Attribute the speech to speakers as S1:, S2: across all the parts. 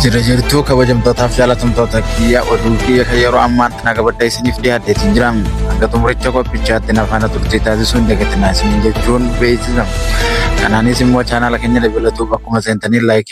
S1: Jira jirtuu kabajamtootaaf jaalatamtoota kiyya oduu kiyya kan yeroo ammaatti naga badda isiniif dhiyaatteetiin jira. Hanga xumuricha qophichaatti nafaana turtii taasisuun dagatinaa isiniin jechuun beeksisa. Kanaanis immoo chaanaala keenya dabalatuuf akkuma seentanii laayikii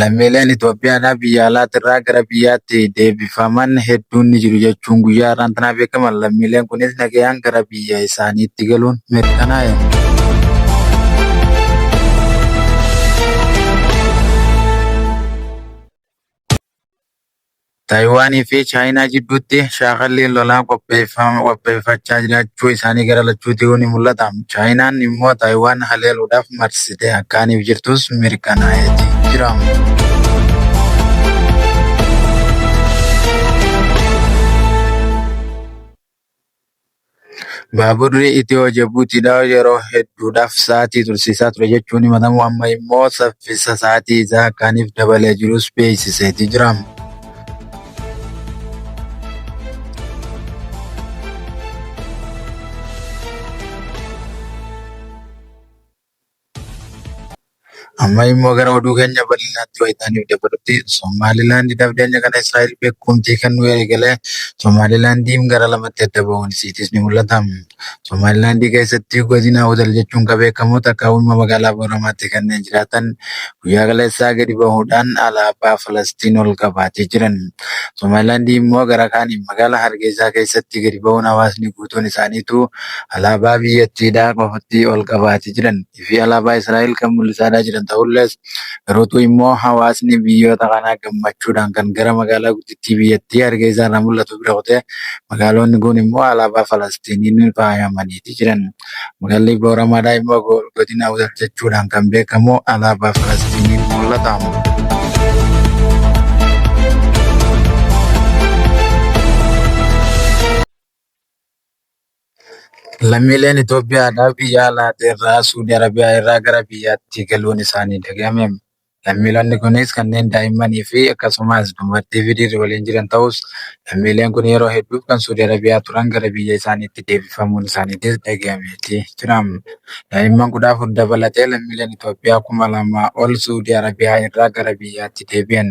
S1: Lammiileen Itoophiyaadhaa biyya alaatirraa gara biyyaatti deebifaman hedduun ni jiru jechuun guyyaa har'aan tanaa beekaman lammiileen kunis nagayaan gara biyya isaaniitti galuun mirkanaa'e. Taayiwaan fi Chaayinaa jidduutti shaakalliin lolaa qopheeffachaa jiraachuu isaanii gara lachuutuu ni mul'ata. Chaayinaan immoo Taayiwaan haleeluudhaaf marsitee akkaaniif jirtus mirkanaa'eeti jira. Baaburri Itiyoo-Jibuutiidhaa yeroo hedduudhaaf sa'aatii tursiisaa ture jechuun himatamu amma immoo saffisa sa'aatii isaa kaaniif dabalee jirus beeksiseeti jira. Amma immoo gara oduu keenya bal'inaatti wayitaaniif dabalutti Somaalilaandi dabdeenya kana Israa'el beekumtii kennuu eegalee Somaalilaandiin gara lamatti adda ba'uun isiitis ni mul'ata. Somaalilaandii keessatti godina Awdal jechuun kan beekamu takka uumama magaalaa Booramaatti kanneen jiraatan guyyaa kaleessaa gadi bahuudhaan alaabaa Falastiin ol qabaatee jiran. Somaalilaandii immoo gara kaaniin magaalaa Hargeysaa keessatti gadi bahuun hawaasni guutuun isaaniitu alaabaa biyyattiidhaa qofatti ol qabaati jiran fi alaabaa Israa'el kan mul'isaadhaa jiran ta'ullees garuu immoo hawaasni biyyoota kanaa gammachuudhaan kan gara magaalaa guddittii biyyattii Hargeessaa irraa mul'atu bira kutee magaaloonni kun immoo alaabaa Falastiiniin faayamaniiti jiran. Magaalli Booramaadhaa immoo godina Awdal jechuudhaan kan beekamu alaabaa Falastiiniin mul'ata. Lammiileen Itoophiyaadhaaf biyya alaatirraa Suudi Arabiyaa irraa gara biyyaatti galuun isaanii dhagahame. Lammiilonni kunis kanneen daa'immanii fi akkasumas dubartii fi dhiirri waliin jiran ta'us, lammiileen kun yeroo hedduuf kan Suudi Arabiyaa turan gara biyya isaaniitti deebifamuun isaaniitis dhagahameeti jira. Daa'imman 14 dabalatee lammiileen Itoophiyaa 2,000 ol Suudi Arabiyaa irraa gara biyyaatti deebi'an.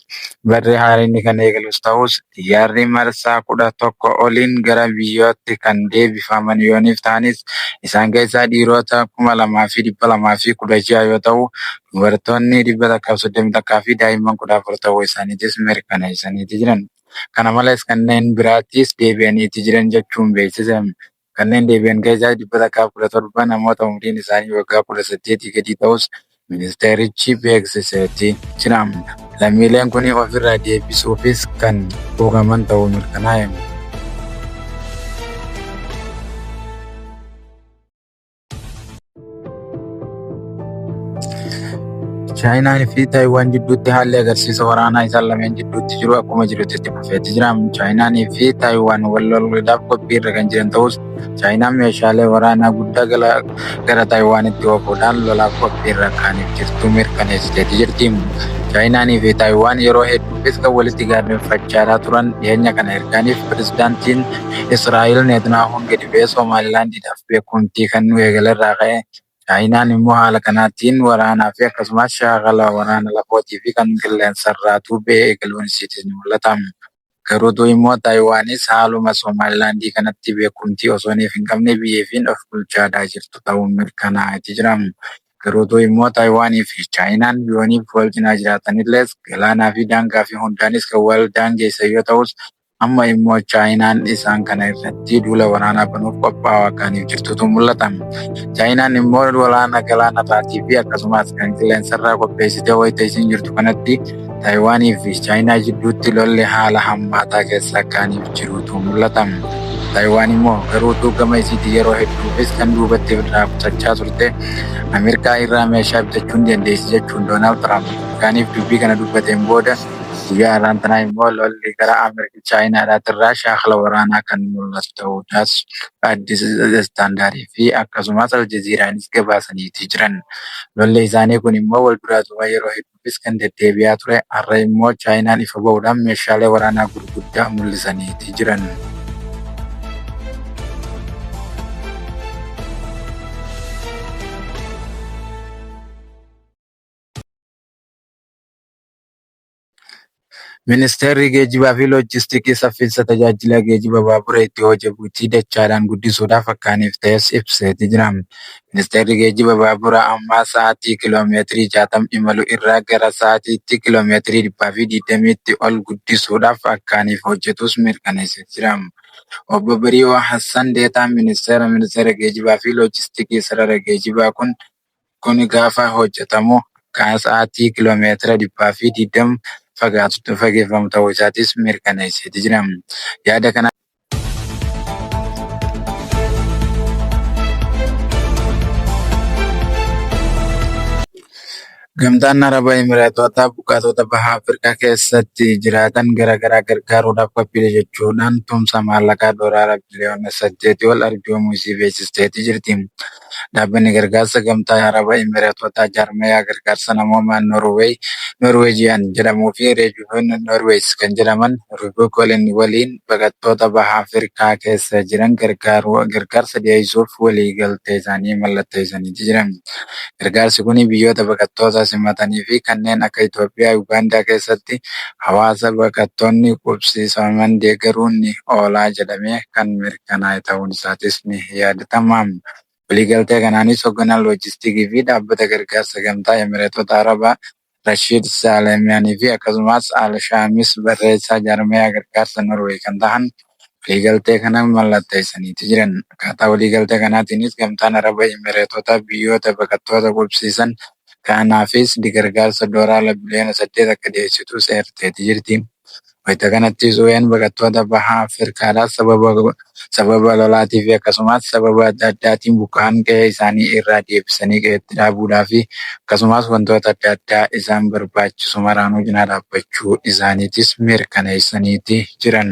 S1: Barri haaraa inni kan eegalus ta'us, xiyyaarri marsaa 11 oliin gara biyyootti kan deebifaman yooniif ta'anis, isaan keessaa dhiiroota 2,216 yoo ta'u, dubartoonni 131 fi daa'imman 14 ta'uu isaaniitis mirkaneessaniiti jiran. Kana malees kanneen biraattis deebi'aniiti jiran jechuun beeksise. Kanneen deebi'an keessaa 117 namoota umriin isaanii waggaa 18 gadii ta'us ministeerichi beeksiseeti jira. Lammiileen kun ofirraa deebisuufis kan quuqaman ta'uu mirkanaa'e. Chaayinaan fi Taayiwaan jidduutti haalli agarsiisa waraanaa isaan lameen jidduutti jiru akkuma jirutti itti fufeetti jira. Chaayinaan fi Taayiwaan wal loluudhaaf qophii irra kan jiran ta'us Chaayinaan meeshaalee waraanaa guddaa gara Taayiwaanitti oofuudhaan lolaaf qophii irra kan jirtu mirkaneessiteetti jirti. Chaayinaan fi Taayiwaan yeroo hedduufis kan walitti gaarreeffachaa turan dhiyeenya kana ergaaniif pirezidaantiin Israa'el Neetnaahuun gadi ba'ee Somaalilaand Chaayinaadhaaf beekumtii kennuu eegale irraa ka'e. Chaayinaan immoo haala kanaatiin waraanaa fi akkasumas shaakala waraana lafootii fi kan qilleensarraa tuubee eegaluun isiitis ni mul'ata. Garuutuu immoo Taayiwaanis haaluma Somaalilaandii kanatti beekumtii osooniif hin qabne biyya ifiin of bulchaadhaa jirtu ta'uun mirkanaa'eeti jira. Garuutuu immoo Taayiwaanii fi Chaayinaan yooniif wal cinaa jiraatanillees galaanaa fi daangaa fi hundaanis kan wal daangeessan yoo ta'us Amma immoo Chaayinaan isaan kana irratti duula waraanaa banuuf qophaa'aa kaaniif jirtutu mul'ata. Chaayinaan immoo waraana galaana irraatii fi akkasumas kan qilleensa irraa qopheessitee wayita isiin jirtu kanatti Taayiwaanii fi Chaayinaa jidduutti lolli haala hammaataa keessa kaaniif jirutu mul'ata. Taayiwaan immoo garuutu gama isiitii yeroo hedduufis kan duubatti irraa qusachaa turte Ameerikaa irraa meeshaa bitachuu ni dandeessi jechuun Doonaald Tiraamp kaaniif dubbii kana dubbateen booda Guyyaa har'aan tanaa immoo lolli gara Ameerikaa Chaayinaadhaatiin Raashiyaa haala waraanaa kan mul'atu ta'uu isaas Addis Standard fi akkasumas Aljazeeraanis gabaasaniiti jiran. Lolli isaanii kun immoo wal duraa duuba yeroo hedduufis kan deddeebi'aa ture har'a immoo Chaayinaan ifa ba'uudhaan meeshaalee waraanaa gurguddaa mul'isaniiti jiran. Ministeerri Geejjibaa fi Loojistikii saffiinsa tajaajila geejjiba baabura itti hojebuutii dachaadhaan guddisuudhaaf akka haniif ta'es ibseeti jira. Ministeerri Geejjiba baabura ammaa sa'atii kiiloo meetirii 60 imalu irraa gara sa'atiitti kiiloo meetirii 120tti ol guddisuudhaaf akka haniif hojjetuus mirkaneessee jira. Obbo Bariihuu Hassan deetaan Ministeera Ministeera Geejjibaa fi Loojistikii sarara geejjibaa kun Kuni gaafa hojjatamu kan sa'aatii kilomeetira 220 fagaatutti fageeffamu ta'uu isaatis mirkaneesseeti jira. Yaada kana. Gamtaan Araba Imireetootaa buqqaatota Baha Afrikaa keessatti jiraatan garaagaraa gargaaruudhaaf qophiidha jechuudhaan tumsa maallaqaa doolaara biliyoona saddeetii ol arjoomuu isii beeksisteeti jirti. Dhaabbanni Gargaarsa Gamtaa Araba Imireetotaa Jaarmayaa Gargaarsa Namoomaa Noorweey, Norwegian, jedhamuu fi Rejuven Norweys kan jedhaman Rubicoolen waliin baqattoota Baha Afrikaa keessa jiran gargaaruu gargaarsa dhiyeessuuf waliigaltee isaanii mallatteessanii jiran. Gargaarsi kun biyyoota baqattoota simatanii fi kanneen akka Itoophiyaa, Ugaandaa keessatti hawaasa baqattoonni qubsiisaman deeggaruun ni oola jedhamee kan mirkanaa'edha. kanaa ta'uun isaatis ni yaadatama. Waliigaltee kanaanis hogganaan loojistikii fi dhaabbata gargaarsa Gamtaa Emireetota Arabaa Rashiid Saalemiyaanii fi akkasumaas Al Shaamis barreessaa jaarmayaa gargaarsa Norway kan tahan waliigaltee kana mallatteessaniiti jiran. Akkaataa waliigaltee kanaatiinis Gamtaan Araba Emireetotaa biyyoota baqattoota qubsiisan kaanaafis dgargaarsa dooraala biliyoona 8 akka dhiyeessitu seerteeti jirti. Wayita kanattis UN baqattoota baha Afirkaadhaa sababa sababa lolaatii fi akkasumaas sababa adda addaatiin buqqa'an qe'ee isaanii irraa deebisanii qe'eetti dhaabuudhaa fi akkasumaas wantoota adda addaa isaan barbaachisu maraanuu cinaa dhaabbachuu isaaniitis mirkaneessaniiti jiran.